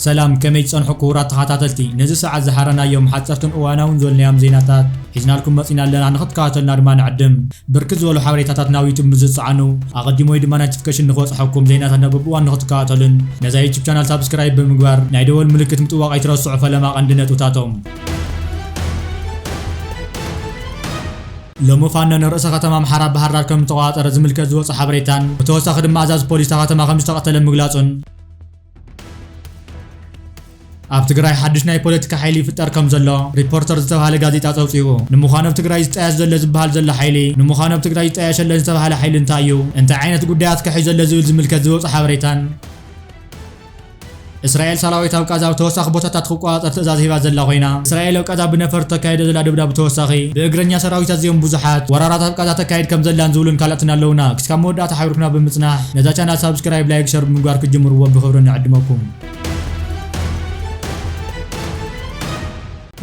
ሰላም ከመይ ትጸንሑ ክቡራት ተኸታተልቲ ነዚ ሰዓት ዝሓረናዮም ሓጸርትን እዋናውን ዘልናዮም ዜናታት ሒዝናልኩም መጺና ኣለና ንኽትከታተሉና ድማ ንዕድም ብርክት ዝበሉ ሓበሬታታት ናብ ዩቱብ ምስ ዝጸዓኑ ኣቐዲሙ ወይ ድማ ናቲፍከሽን ንክበጽሖኩም ዜናታት ናብ በብእዋኑ ንክትከታተሉን ነዛ ዩቱብ ቻናል ሳብስክራይብ ብምግባር ናይ ደወል ምልክት ምጥዋቕ ኣይትረስዑ ፈለማ ቀንዲ ነጥብታቶም ሎሚ ፋኖ ንርእሰ ከተማ ኣምሓራ ባህርዳር ከምዝተቖጻጸረ ዝምልከት ዝወጸ ሓበሬታን ብተወሳኺ ድማ ኣዛዚ ፖሊስ እታ ከተማ ከምዝተቐተለ ምግላጹን ኣብ ትግራይ ሓድሽ ናይ ፖለቲካ ሓይሊ ይፍጠር ከም ዘሎ ሪፖርተር ዝተባሃለ ጋዜጣ ጸብጺቡ። ንምዃኑ ኣብ ትግራይ ዝጣየሽ ዘሎ ዝበሃል ዘሎ ሓይሊ፣ ንምዃኑ ኣብ ትግራይ ይጣየሽ ኣሎ ዝተባህለ ሓይሊ እንታይ እዩ፣ እንታይ ዓይነት ጉዳያት ከ ሒዙ ኣሎ ዝብል ዝምልከት ዝወጸ ሓበሬታን እስራኤል ሰራዊት ኣብ ቃዛ ኣብ ተወሳኺ ቦታታት ክቆጻጸር ትእዛዝ ሂባ ዘላ ኮይና፣ እስራኤል ኣብ ቃዛ ብነፈርቲ ተካይዶ ዘላ ድብዳ ብተወሳኺ ብእግረኛ ሰራዊት ኣዝዮም ብዙሓት ወራራት ኣብ ቃዛ ተካይድ ከም ዘላን ዝብሉን ካልኦትን ኣለውና። ክስካብ መወዳእታ ሓቢርኩና ብምጽናሕ። ነዛ ቻናል ሳብስክራይብ ላይክ ሸር ብምግባር ክትጅምርዎ ብክብሪ ንዕድመኩም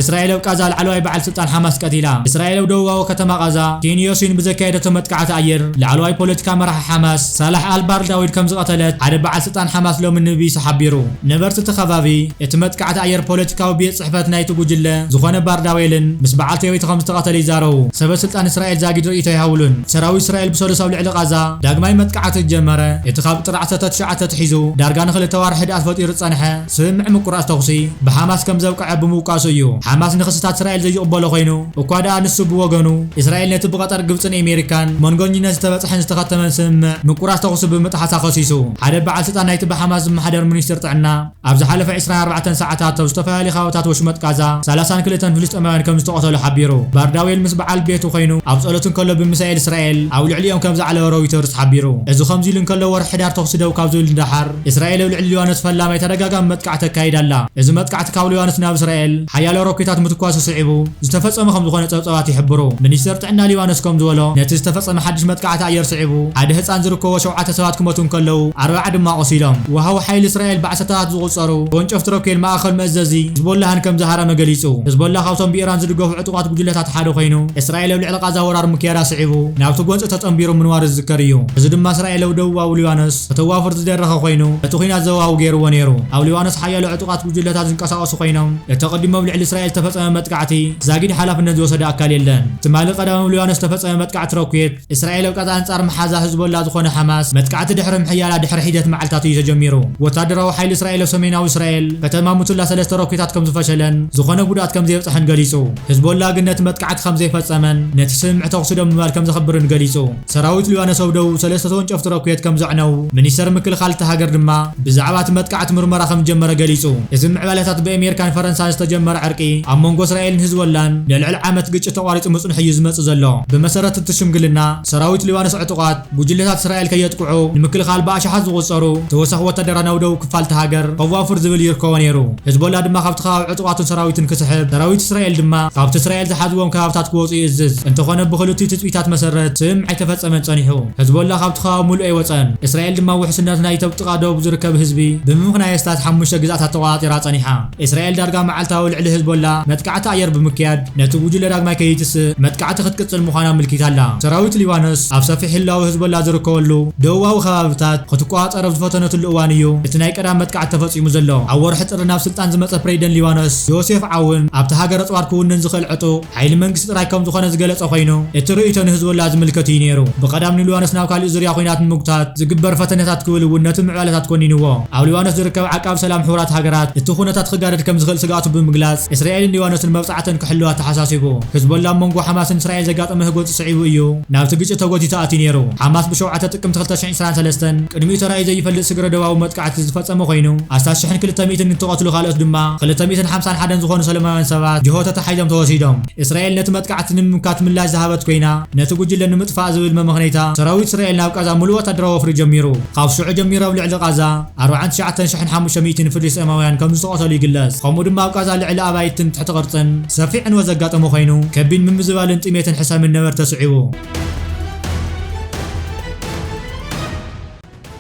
እስራኤል ኣብ ቃዛ ላዕለዋይ በዓል ስልጣን ሓማስ ቀቲላ። እስራኤል ኣብ ደቡባዊ ከተማ ቃዛ ኪን ዮሲን ብዘካየደቶ መጥቃዕቲ ኣየር ላዕለዋይ ፖለቲካ መራሒ ሓማስ ሳላሕ ኣልባር ዳዊድ ከም ዝቐተለት ሓደ በዓል ስልጣን ሓማስ ሎሚ ንቢቢሲ ሓቢሩ። ነበርቲ እቲ ከባቢ እቲ መጥቃዕቲ ኣየር ፖለቲካዊ ቤት ጽሕፈት ናይቲ ጉጅለ ዝዀነ ባርዳዌልን ምስ በዓልቲ ሕይወቲ ከም ዝተቐተለ ይዛረቡ። ሰበ ስልጣን እስራኤል ዛጊድ ርእይቶ ኣይሃቡሉን። ሰራዊት እስራኤል ብሰሉስ ኣብ ልዕሊ ቓዛ ዳግማይ መጥቃዕቲ ዝጀመረ እቲ ካብ ጥሪ ዓሰርተ ትሽዓተ ኣትሒዙ ዳርጋ ንኽልተ ኣዋርሕ ህድኣት ፈጢሩ ዝጸንሐ ስምምዕ ምቍራጽ ተዅሲ ብሓማስ ከም ዘብቅዐ ብምውቃሱ እዩ። ሓማስ ንኽስታት እስራኤል ዘይቕበሎ ኰይኑ እኳ ደኣ ንሱ ብወገኑ እስራኤል ነቲ ብቐጠር፣ ግብጽን ኤሜሪካን መንጎኝነት ዝተበጽሐን ዝተኸተመን ስምምዕ ምቍራጽ ተዅሲ ብምጥሓሳ ከሲሱ። ሓደ በዓል ስልጣን ናይቲ ብሓማስ ዝመሓደር ሚኒስትር ጥዕና፣ ኣብ ዝሓለፈ ዕስራን ኣርባዕተን ሰዓታት ኣብ ዝተፈላለዩ ከባብታት ወሽመጥ ቃዛ ሰላሳን ክልተን ፍልስጤማውያን ከምዝተቐተሉ ሓቢሩ። ባርዳዌል ምስ በዓል ቤቱ ኮይኑ ኣብ ጸሎት እንከሎ ብሚሳኤል እስራኤል ኣብ ልዕሊኦም ከምዝዓለወ ሮይተርስ ሓቢሩ። እዚ ከምዚሉ እንከሎ ወርሒ ሕዳር ተኹሲ ደው ካብ ዝብል ንደሓር እስራኤል ኣብ ልዕሊ ሊባኖስ ፈላማይ ተደጋጋሚ መጥቃዕቲ ተካይድ ኣላ። እዚ መጥቃዕቲ ካብ ሊባኖስ ናብ እስራኤል ሓያሎ ሮኬታት ምትኳሱ ስዒቡ ዝተፈጸመ ከምዝኾነ ጸብጻባት ይሕብሩ። ሚኒስተር ጥዕና ሊባኖስ ከምዝበሎ፣ ነቲ ዝተፈጸመ ሓድሽ መጥቃዕቲ ኣየር ስዒቡ፣ ሓደ ህጻን ዝርከቦ ሸውዓተ ሰባት ክመቱ እንከለዉ፣ ኣርብዓ ድማ ቆሲሎም። ወሃቢ ሓይሊ እስራኤል ብዓሰርተታት ዝቑጸሩ ተወንጨፍቲ ሮኬል ማእከል መእዘዚ ሂዝቦላህን ከምዝሃረመ ገሊጹ። ህዝቦላህ ካብቶም ብኢራን ዝድገፉ ዕጡቓት ጉጅለታት ሓደ ኮይኑ፣ እስራኤል ኣብ ልዕሊ ቓዛ ወራር ምክያዳ ስዒቡ ናብቲ ጎንጺ ተጸንቢሩ ምንዋሩ ዝዝከር እዩ። እዚ ድማ እስራኤል ኣብ ደቡባዊ ሊባኖስ ከተዋፍር ዝደረኸ ኮይኑ፣ እቲ ኲናት ዘዋዊ ገይርዎ ነይሩ። ኣብ ሊባኖስ ሓያሎ ዕጡቓት። ጉጅለታት ዝንቀሳቐሱ ኮይኖም፣ እቲ ኣቐዲሙ ኣብ ልዕሊ እስራኤል ዝተፈጸመ መጥቃዕቲ ዛጊድ ሓላፍነት ዝወሰደ ኣካል የለን። ትማሊ ቀዳም ኣብ ሊባኖስ ዝተፈጸመ መጥቃዕቲ ሮኬት እስራኤል ኣብ ቀጥታ ኣንጻር መሓዛ ሕዝቦላ ዝኾነ ሓማስ መጥቃዕቲ ድሕሪ ምሕያላ ድሕሪ ሒደት መዓልታት እዩ ተጀሚሩ። ወታደራዊ ሓይሊ እስራኤል ኣብ ሰሜናዊ እስራኤል ከተማ ሙቱላ ሰለስተ ሮኬታት ከምዝፈሸለን ዝኾነ ጉድኣት ከምዘየብጽሐን ገሊጹ። ሕዝቦላ ግን ነቲ መጥቃዕቲ ከምዘይፈጸመን ነቲ ስምምዕ ተኹሲ ደው ምባል ከምዘኽብርን ገሊጹ። ሰራዊት ሊባኖስ ኣብ ደቡብ ሰለስተ ተወንጨፍቲ ሮኬት ከም ዘዕነዉ፣ ሚኒስተር ምክልኻል እታ ሃገር ድማ ብዛዕባ እቲ መጥቃዕቲ ምርመራ ከም ዝጀመረ ገሊጹ። እዚ ምዕባለታት ብኣሜሪካን ፈረንሳን ዝተጀመረ ዕርቂ ኣብ መንጎ እስራኤልን ህዝቦላን ንልዕሊ ዓመት ግጭት ተቋሪጹ ምጽንሑ እዩ ዝመጽእ ዘሎ። ብመሰረት እቲ ሽምግልና፣ ሰራዊት ሊባኖስ ዕጡቓት ጉጅለታት እስራኤል ከየጥቅዑ ንምክልኻል ብኣሽሓት ዝቑጸሩ ተወሳኺ ወታደራት ናብ ደቡብ ክፋል እታ ሃገር ከዋፍር ዝብል ይርከቦ ነይሩ። ህዝቦላ ድማ ካብቲ ከባቢ ጥዋቱን ሰራዊቱን ክስሕብ፣ ሰራዊት እስራኤል ድማ ካብቲ እስራኤል ዝሓዝዎም ከባብታት ክወጹ ይእዝዝ። እንተኾነ ብኽልቲኡ ትጽቢታት መሰረት ስምምዕ ኣይተፈጸመን ጸኒሑ። ሕዝቦላህ ካብቲ ከባቢ ምሉእ ኣይወጸን። እስራኤል ድማ ውሕስነት ናይቲ ኣብ ጥቓ ደቡብ ዝርከብ ህዝቢ ብምምኽናይ ኣስታት ሓሙሽተ ግዝኣታት ተቖጻጺራ ጸኒሓ። እስራኤል ዳርጋ መዓልታዊ ልዕሊ ሕዝቦላህ መጥቃዕቲ ኣየር ብምክያድ ነቲ ጉጅለ ዳግማይ ከይትስእ መጥቃዕቲ ክትቅጽል ምዃና ኣምልኪታ ኣላ። ሰራዊት ሊባኖስ ኣብ ሰፊሕ ህላወ ሕዝቦላህ ዝርከበሉ ደቡባዊ ከባብታት ክትቆጻጸር ኣብ ዝፈተነትሉ እዋን እዩ እቲ ናይ ቀዳም መጥቃዕቲ ተፈጺሙ ዘሎ። ኣብ ወርሒ ጥሪ ናብ ስልጣን ዝመጸ ፕረዚደንት ሊባኖስ ዮሴፍ ዓውን፣ ኣብታ ሃገር ኣጽዋር ክውንን ዝኽእል ዕጡቕ ሓይሊ መንግስቲ ጥራይ ከምዝኾነ ዝገለጸ ኮይኑ፣ እቲ ርእይቶ ንህዝቦላህ ዝምልከት እዩ ነይሩ። ብቐዳም ንሊባኖስ ናብ ካሊእ ዙርያ ኹናት ንምጉታት ዝግበር ፈተነታት ክብል እውን ነቲ ምዕባለታት ኮኒንዎ። ኣብ ሊባኖስ ዝርከብ ዓቃቢ ሰላም ሕቡራት ሃገራት፣ እቲ ኩነታት ክጋደድ ከምዝኽእል ስግኣቱ ብምግላጽ፣ እስራኤልን ሊባኖስን መብጽዓተን ክሕልዋ ኣተሓሳሲቡ። ህዝቦላህ ኣብ መንጎ ሓማስን እስራኤል ዘጋጠመ ህጎጽ ስዒቡ እዩ ናብቲ ግጭት ተጎቲቱ ኣትዩ ነይሩ። ሓማስ ብሸውዓተ ጥቅምቲ ክልተ ሽሕን ዕስራን ሰለስተን ቅድሚኡ ተራእዩ ዘይፈልጥ ስግረ-ዶባዊ መጥቃዕቲ ዝፈጸመ ኮይኑ፣ ኣስታት ሽሕን ክልተ ሚእትን እንትቐትሉ ካልኦት ድማ ክልተ ሚእትን ሓምሳን ሓደን ዝኾኑ ሰለማውያን ሰባት ጅሆ ተታሒዞም ተወሲዶም። እስራኤል ነቲ መጥቃዕቲ ንምምካት ምላሽ ዝሃበት ኮይና፣ ነቲ ጉጅለ ንምጥፋእ ዝብል መመኽነይታ፣ ሰራዊት እስራኤል ናብ ቃዛ ምሉእ ወታደራዊ ወፍሪ ጀሚሩ። ካብ ሽዑ ጀሚሩ ኣብ ልዕሊ ቃዛ ኣርብዓን ትሽዓተን ሽሕን ሓሙሽተ ሚእትን ፍልስጤማውያን ከምዝተቐተሉ ይግለጽ። ከምኡ ድማ ኣብ ቃዛ ልዕሊ ኣባይትን ትሕቲ ቅርጽን ሰፊሕ ዕንወት ዘጋጠመ ኮይኑ፣ ከቢድ ምምዝባልን ጥሜትን ሕሰምን ነበርቲ ኣስዒቡ።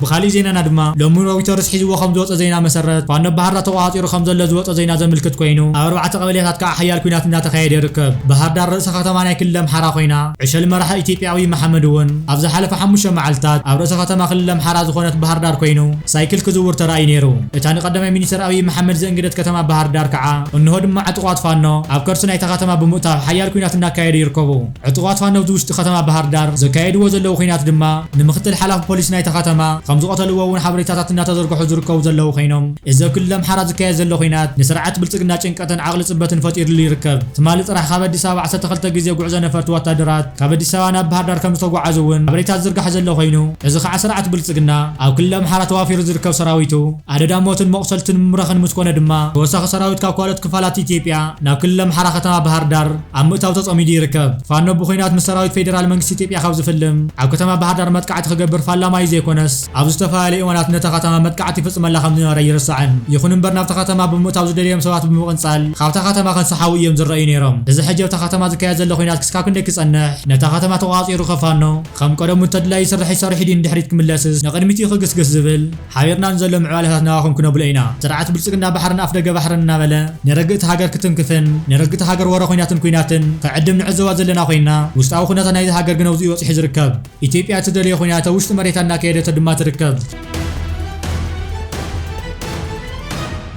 ብኻሊእ ዜናና ድማ ሎሚ ሮይተርስ ሒዝዎ ከም ዝወጸ ዜና መሰረት ፋኖ ብ ባህርዳር ተቆጻጺሩ ከም ዘሎ ዝወጸ ዜና ዘምልክት ኮይኑ ኣብ ኣርባዕተ ቀበሌታት ከኣ ሓያል ኲናት እንዳተኻየደ ይርከብ። ባህርዳር ርእሰ ከተማ ናይ ክልል ኣምሓራ ኮይና ዕሸል መራሒ ኢትዮጵያ ኣብይ መሓመድ እውን ኣብ ዝሓለፈ ሓሙሽተ መዓልታት ኣብ ርእሰ ከተማ ክልል ኣምሓራ ዝኾነት ባህርዳር ኮይኑ ሳይክል ክዝውር ተራእዩ ነይሩ። እታ ንቀዳማይ ሚኒስተር ኣብይ መሓመድ ዘእንገደት ከተማ ባህርዳር ከኣ እንሆ ድማ ዕጡቓት ፋኖ ኣብ ከርሲ ናይታ ከተማ ብምእታው ሓያል ኲናት እንዳካየዱ ይርከቡ። ዕጡቓት ፋኖብቲ ውሽጢ ከተማ ባህርዳር ዘካየድዎ ዘለዉ ኹናት ድማ ንምክትል ሓላፊ ፖሊስ ናይታ ከተማ ከምዝቐተልዎ እውን ሓበሬታታት እናተዘርገሑ ዝርከቡ ዘለዉ ኸይኖም እዚ ኣብ ክልል ኣምሓራ ዝካየድ ዘሎ ኹናት ንስርዓት ብልፅግና ጭንቀትን ዓቕሊ ፅበትን ፈጢርሉ ይርከብ። ትማሊ ጥራሕ ካብ ኣዲስ ኣበባ ዓሰርተ ክልተ ግዜ ጉዕዞ ነፈርቲ ወታደራት ካብ ኣዲስ ኣበባ ናብ ባህርዳር ከምዝተጓዓዙ እውን ሓበሬታ ዝዝርጋሕ ዘሎ ኹይኑ እዚ ከዓ ስርዓት ብልፅግና ኣብ ክልል ኣምሓራ ተዋፊሩ ዝርከብ ሰራዊቱ ኣደዳ ሞትን መቑሰልትን ምምራኽን ምስኮነ ድማ ተወሳኺ ሰራዊት ካብ ካልኦት ክፋላት ኢትዮጵያ ናብ ክልል ኣምሓራ ከተማ ባህርዳር ኣብ ምእታው ተጸሚዱ ይርከብ። ፋኖ ብኩናት ምስ ሰራዊት ፌደራል መንግስቲ ኢትዮጵያ ካብ ዝፍልም፣ ኣብ ከተማ ባህርዳር መጥቃዕቲ ክገብር ፋላማ እዩ ዘይኮነስ፣ ኣብ ዝተፈላለዩ እዋናት ነታ ከተማ መጥቃዕቲ ይፍጽመላ ከም ዝነበረ ኣይርሳዕን። ይኹን እምበር ናብታ ከተማ ብምእታው ዝደለዮም ሰባት ብምቕንጻል ካብታ ከተማ ከንሳሓቡ እዮም ዝረኣዩ ነይሮም። እዚ ሕጂ ኣብታ ከተማ ዝካየድ ዘሎ ኩናት ክስካብ ክንደይ ክጸንሕ፣ ነታ ከተማ ተቖጻጺሩ ከ ፋኖ ከም ቀደሙ እንተድላዩ ስርሒት ሰሪሑ ድዩ ንድሕሪት ክምለስስ ንቕድሚት እዩ ክግስግስ ዝብል? ሓቢርና ንዘሎ ምዕባለታት ናባኹም ክነብሎ ኢና። ስርዓት ብልፅግና ባሕርን ኣፍደገ ባሕርን እናበለ ንርግእቲ ሃገር ክትንክፍን ንርግእቲ ሃገር ወረ ኹናትን ኩናትን ክዕድም ንዕዘባ ዘለና ኮይንና ውሽጣዊ ኩነታ ናይዛ ሃገር ግን ኣብዙይ በፂሑ ዝርከብ። ኢትዮጵያ እትደልዮ ኩናት ኣብ ውሽጢ መሬታ እናካየደቶ ድማ ትርከብ።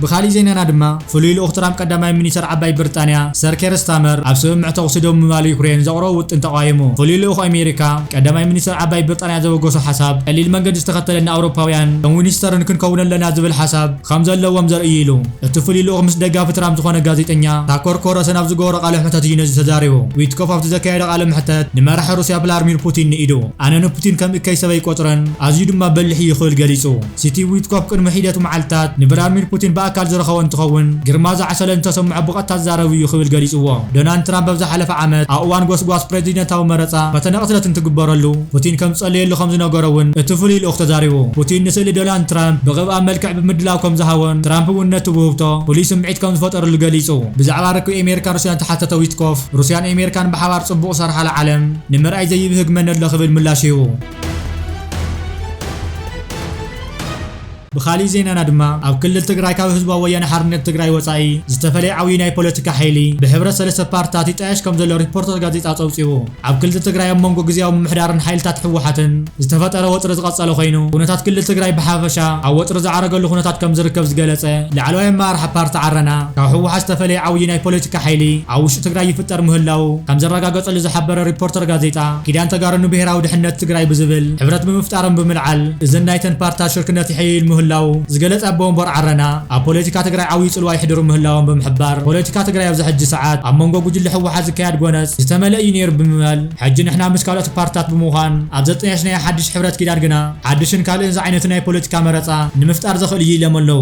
ብኻሊእ ዜናና ድማ ፍሉይ ልኡኽ ትራምፕ ቀዳማይ ሚኒስተር ዓባይ ብርጣንያ ሰር ኬር ስታመር ኣብ ስምምዕ ተኹሲ ደው ምባል ዩክሬን ዘቕረቦ ውጥን ተቓዊሙ። ፍሉይ ልኡኽ ኣሜሪካ ቀዳማይ ሚኒስተር ዓባይ ብርጣንያ ዘበገሶ ሓሳብ ቀሊል መንገዲ ዝተኸተለ ንኣውሮፓውያን ከም ዊንስተርን ክንከውን ኣለና ዝብል ሓሳብ ከም ዘለዎም ዘርኢ እዩ ኢሉ። እቲ ፍሉይ ልኡኽ ምስ ደጋፊ ትራምፕ ዝኾነ ጋዜጠኛ ታኮር ኮረሰን ኣብ ዝገበሮ ቃለ ሕተት እዩ ነዚ ተዛሪቡ። ዊትኮፍ ኣብቲ ዘካየዶ ቃለ መሕተት ንመራሒ ሩስያ ቭላርሚር ፑቲን ንኢዱ ኣነ ንፑቲን ከም እከይ ሰበይ ይቆጽረን ኣዝዩ ድማ በሊሕ እዩ ክብል ገሊጹ። ሲቲቭ ዊትኮፍ ቅድሚ ሒደት መዓልታት ንቭላድሚር ፑቲን ብኣካል ዝረኸቦ እንትኸውን፣ ግርማ ዝዓሰለ እንተሰምዖ ብቐጥታ ዝዛረብ እዩ ክብል ገሊጽዎ። ዶናልድ ትራምፕ ኣብ ዝሓለፈ ዓመት ኣብ እዋን ጎስጓስ ፕረዚደንታዊ መረጻ ፈተነ ቅትለት እንትግበረሉ ፑቲን ከም ዝጸለየሉ ከም ዝነገሮ እውን እቲ ፍሉይ ልኡኽ ተዛሪቡ። ፑቲን ንስእሊ ዶናልድ ትራምፕ ብቕብኣ መልክዕ ብምድላው ከም ዝሃቦን ትራምፕ እውን ነቲ ውህብቶ ፍሉይ ስምዒት ከም ዝፈጠረሉ ገሊጹ። ብዛዕባ ርክብ ኤሜሪካን ሩስያን እተሓተተ ዊትኮፍ፣ ሩስያን ኤሜሪካን ብሓባር ጽቡቕ ዝሰርሓላ ዓለም ንምርኣይ ዘይብህግ መን ኣሎ ክብል ምላሽ ሂቡ። ብኻሊእ ዜናና ድማ ኣብ ክልል ትግራይ ካብ ህዝባዊ ወያነ ሓርነት ትግራይ ወፃኢ ዝተፈለየ ዓብዩ ናይ ፖለቲካ ሓይሊ ብሕብረት ሰለስተ ፓርትታት ይጣየሽ ከም ዘሎ ሪፖርተር ጋዜጣ ፀብፂቡ። ኣብ ክልል ትግራይ ኣብ መንጎ ግዝያዊ ምምሕዳርን ሓይልታት ህወሓትን ዝተፈጠረ ወጥሪ ዝቐፀለ ኮይኑ ኩነታት ክልል ትግራይ ብሓፈሻ ኣብ ወጥሪ ዝዓረገሉ ኩነታት ከም ዝርከብ ዝገለፀ ላዕለዋይ ኣመራርሓ ፓርቲ ዓረና ካብ ህወሓት ዝተፈለየ ዓብዩ ናይ ፖለቲካ ሓይሊ ኣብ ውሽጢ ትግራይ ይፍጠር ምህላዉ ከም ዘረጋገጸሉ ዝሓበረ ሪፖርተር ጋዜጣ፣ ኪዳን ተጋሩ ንብሄራዊ ድሕነት ትግራይ ብዝብል ሕብረት ብምፍጣሮም ብምልዓል እዘን ናይተን ፓርትታት ሽርክነት ይሕይል ምህላዉ ዝገለጸ ኣቦ ወንበር ዓረና፣ ኣብ ፖለቲካ ትግራይ ዓብዩ ጽልዋ የሕድሩ ምህላዎም ብምሕባር፣ ፖለቲካ ትግራይ ኣብዚ ሕጂ ሰዓት ኣብ መንጎ ጉጅለ ህወሓት ዝካየድ ጎነጽ ዝተመልእ እዩ ነይሩ ብምባል፣ ሕጂ ንሕና ምስ ካልኦት ፓርትታት ብምዃን ኣብ ዘጠያየሽናዮ ሓድሽ ሕብረት ኪዳን ግና ሓድሽን ካልእን ዝዓይነቱ ናይ ፖለቲካ መረጻ ንምፍጣር ዘኽእል እዩ ኢሎም ኣለዉ።